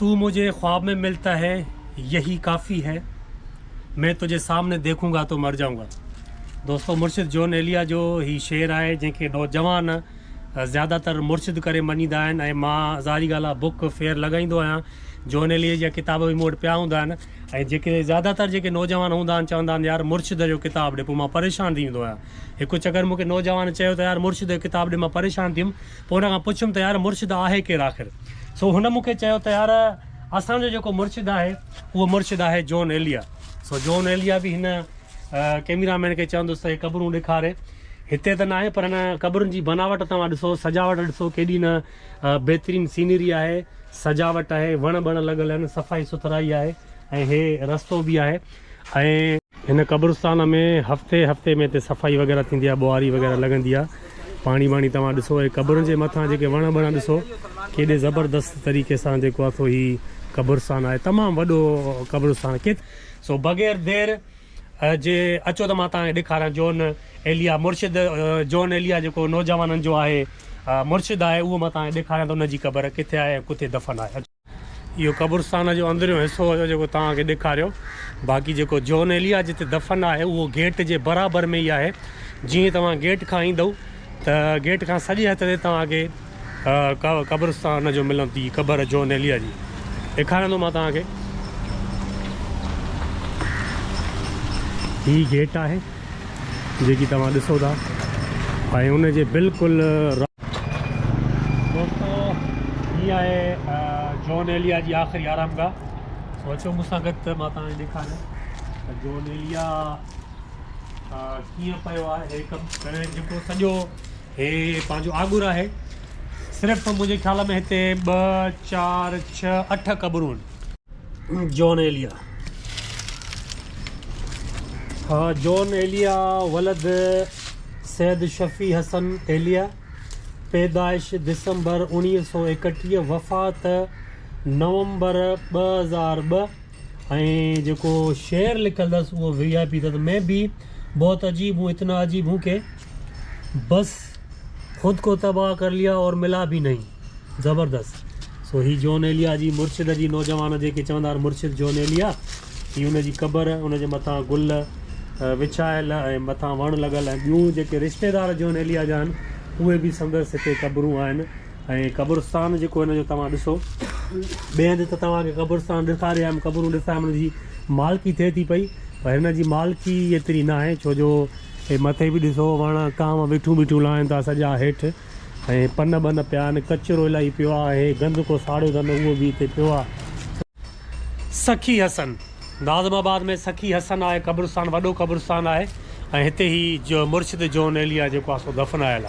تو مجھے خواب مين ملتا هي يهي ڪافي هي مين تجھي سامني ديکون گا تو مر جائون گا دوستو مرشد جون ايليا جو هي شعر آهي جنهن کي نوجوان زياده تر مرشد ڪري مڃيندا آهن ۽ مان ظاهري ڳالهه آهي بوڪ فيئر لڳائيندو آهيان جون ايليا جا ڪتاب به مون وٽ پيا هوندا آهن ۽ جيڪي زياده تر جيڪي نوجوان هوندا آهن چوندا آهن يار مرشد جو ڪتاب ڏي پوء مان پريشان ٿي ويندو آهيان هڪ چڪر مون کي نوجوان چيو ته يار مرشد جو ڪتاب ڏي مان پريشان ٿي ويم پوء هن کان پڇيم ته يار مرشد آهي ڪير آخر؟ سو هن مون کي چيو ته يار اسان جو جيڪو مرشد آهي اهو مرشد آهي جون ايليا. سو جون ايليا به هن ڪئميرا مين کي چوندس ته هي قبرون ڏيکاري. هتي ته ناهي پر هن قبرن جي بناوٽ توهان ڏسو سجاوٽ ڏسو ڪيڏي نه بهترين سينري آهي، سجاوٽ آهي، وڻ ٻڻ لڳل آهن، صفائي سٿرائي آهي ۽ هي رستو به آهي ۽ هن قبرستان ۾ هفتي هفتي ۾ هتي صفائي وغيره ٿيندي آهي ٻوهاري وغيره لڳندي آهي پاڻي ٻاڻي توهان ڏسو هي قبرن جي مٿان جيڪي وڻ ٻڻ ڏسو ڪيڏي زبردست طريقي سان جيڪو آهي سو هي قبرستان آهي تمام وڏو قبرستان ڪيت سو بغير دير جي اچو ته مان توهان کي ڏيکاريان جون ايليا مرشد جون ايليا جيڪو نوجوانن جو آهي مرشد آهي اهو مان توهان کي ڏيکاريان ته ان جي قبر ڪٿي آهي ۽ ڪٿي دفن آهي. اهو قبرستان جو اندريون حصو هيو جيڪو توهان کي ڏيکاريو. باقي جيڪو جون ايليا جتي دفن آهي اهو گيٽ جي برابر ۾ ئي آهي. جيئن ئي توهان گيٽ کان ايندؤ ته گيٽ کان سڄي هٿ تي توهان کي قبرستان جو ملندي قبر جون ايليا جي ڏيکاريان ٿو مان توهان کي. هي گيٽ آهي. جيڪي توهان ڏسو ٿا ۽ ان جي بلڪل دوستو هي آهي جون ايليا جي آخري آرام گاهه سو اچو مون سان گڏ ته مان توهان ڏيکاريان ته جون ايليا ڪيئن پيو آهي هي ڪم ڪري جيڪو سڄو هي پنهنجو آڳر آهي صرف منهنجي خيال ۾ هتي ٻه چار ڇهه اٺ قبرون جون ايليا ها جون ايليا ولد سيد شفيع حسن ايليا پيدائش دسمبر اوڻيهه سؤ ايڪٽيهه وفات نومبر ٻه هزار ٻه ۽ جيڪو شعر لکل اٿس اهو وي آء پي تت ۾ بي بهت عجيب هون اتنا عجيب هون ڪي بس خود ڪو تباهه ڪر ليا اور ملا بي نهين زبردست سو هي جون ايليا جي مرشد جي نوجوان جيڪي چوندا مرشد جون ايليا هي ان جي قبر ان جي مٿان گل وڇايل ۽ مٿان وڻ لڳل ۽ ٻيون جيڪي رشتيدار جون ايليا جا آهن اهي به سندس هتي قبرون آهن ۽ قبرستان جيڪو هن جو توهان ڏسو ٻئي هنڌ ته توهان کي قبرستان ڏيکاري آيم قبرون ڏسايم ان جي مالڪي ٿئي ٿي پئي پر هن جي مالڪي ايتري ناهي ڇو جو هي مٿي به ڏسو وڻ ڪانء ويٺون بيٺون لائن ٿا سڄا هيٺ ۽ پن ٻن پيا آهن. ڪچرو الاهي پيو آهي. گند ڪو ساڙيو اٿن اهو به هتي پيو آهي. سخي حسن، ناظم آباد ۾ سخي حسن آهي قبرستان وڏو قبرستان آهي ۽ هتي هي جو مرشد جون ايليا جيڪو آهي سو دفنايل آهي.